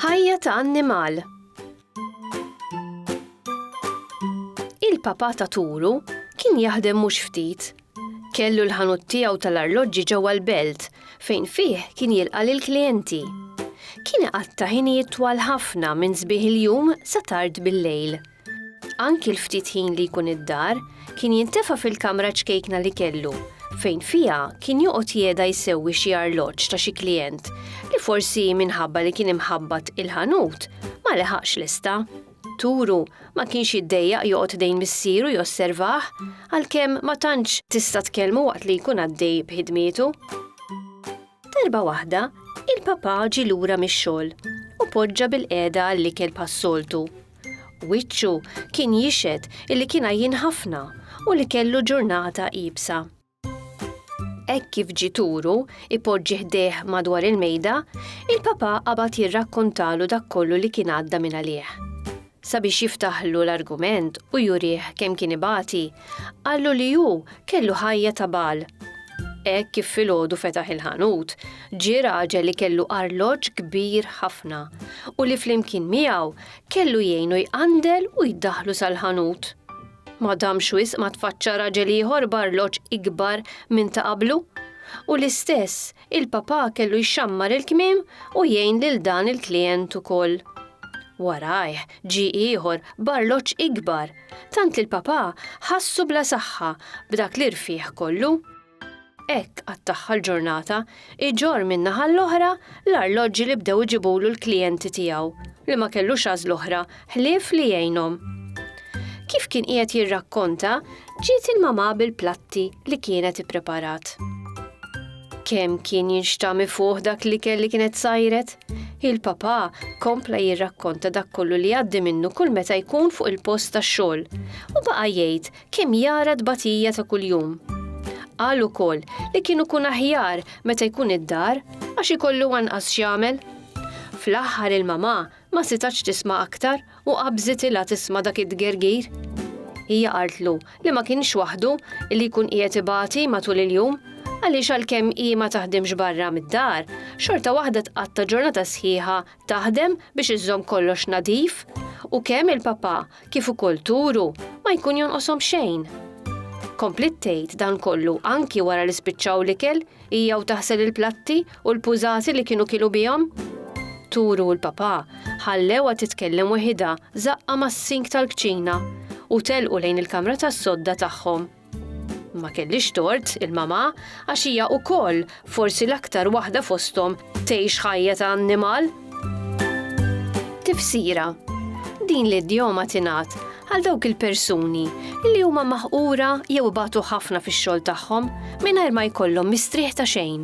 Ħajja ta' annimal. Il-papa ta' Turu kien jaħdem mhux ftit. Kellu l-ħanut tiegħu tal-arloġġi ġewwa l-belt fejn fih kien jilqa' lil klijenti. Kien iqatta' ħinijiet twal ħafna minn sbieħ il-jum sa tard bil-lejl. Anki l-ftit ħin li jkun id-dar, kien jintefa' fil-kamra ċkejkna li kellu, fejn fiha kien joqgħod jegħda jsewwi xi arloġġ ta' xi klijent li forsi minħabba li kien imħabbat il-ħanut ma leħaqx lesta. Turu ma kienx jiddejjaq joqgħod ħdejn missieru josservah, għalkemm ma tantx tista' tkellmu waqt li jkun għaddej b'ħidmietu. Darba waħda, il-papà ġie lura mix-xogħol u poġġa bilqiegħda għall-ikel bħas-soltu. Wiċċu kien jixhed li kien għajjien ħafna u li kellu ġurnata iebsa. Hekk kif ġie turu ipoġġi ħdejh madwar il-mejda, il-papà qabad jirrakkontalu dak kollu li kien għadda minn għalih. Sabiex jiftaħlu l-argument u jurih kemm kien ibati, qallu li hu kellu ħajja ta' bagħal. Hekk kif filgħodu fetaħ il-ħanut, ġie raġel li kellu arloġġ kbir ħafna u li flimkien miegħu kellu jgħinu jqandel u jdaħħlu sal-ħanut. Ma damx wisq ma tfaċċa raġel ieħor b'arloġġ ikbar minn ta' qablu, u l-istess Il-Papà kellu jxammar il-kmiem u jgħin lil dan il-klijent ukoll. Warajh ġie ieħor b'arloġġ ikbar, tant li l-Papà ħassu bla saħħa b'dak l-irfigħ kollu. Hekk qattagħha l-ġurnata, iġorr min-naħa l-oħra l-arloġġi li bdew iġibulu l-klijenti tiegħu, li ma kellux għażla oħra ħlief li jgħinhom. Kif kien qiegħed jirrakkonta, ġiet il-mamà bil-platti li kienet ippreparat. Kemm kien jinxtami fuq dak li kelli kienet sajret? Il-papà kompla jirrakkonta dak kollu li għaddi minnu kull meta jkun fuq il-post tax-xogħol u baqa' jgħid kemm jara tbatija ta' kuljum. Qal ukoll li kien ikun aħjar meta jkun id-dar għax ikollu anqas x'jagħmel. Fl-aħħar il-mamà Ma sitatx tisma' aktar u qabżit ilha tisma' dak id-dgergir. Hija qaltlu li ma kienx waħdu li jkun qiegħed ibati matul il-jum għaliex għalkemm hi ma taħdimx barra mid-dar, xorta waħda tqatta' ġurnata sħiħa taħdem biex iżżomm kollox nadif u kemm il-papà kif ukoll Turu ma jkun jonqoshom xejn. Kompliet tgħid dan kollu anki wara li spiċċaw l-ikel Hija u taħsel il-platti u l-pużati li kienu kilu bihom? Turu u l-papà ħallewha titkellem weħidha żaqqha mas-sink tal-kċina u telqu lejn il-kamra tas-sodda tagħhom. Ma kellix tort il-mamà għax hija wkoll, forsi l-aktar waħda fosthom, tgħix ħajja ta' annimal. Tifsira Din l-idjoma tingħad għal dawk il-persuni li huma maħqura jew ibatu ħafna fix-xogħol tagħhom mingħajr ma jkollhom mistrieħ ta' xejn.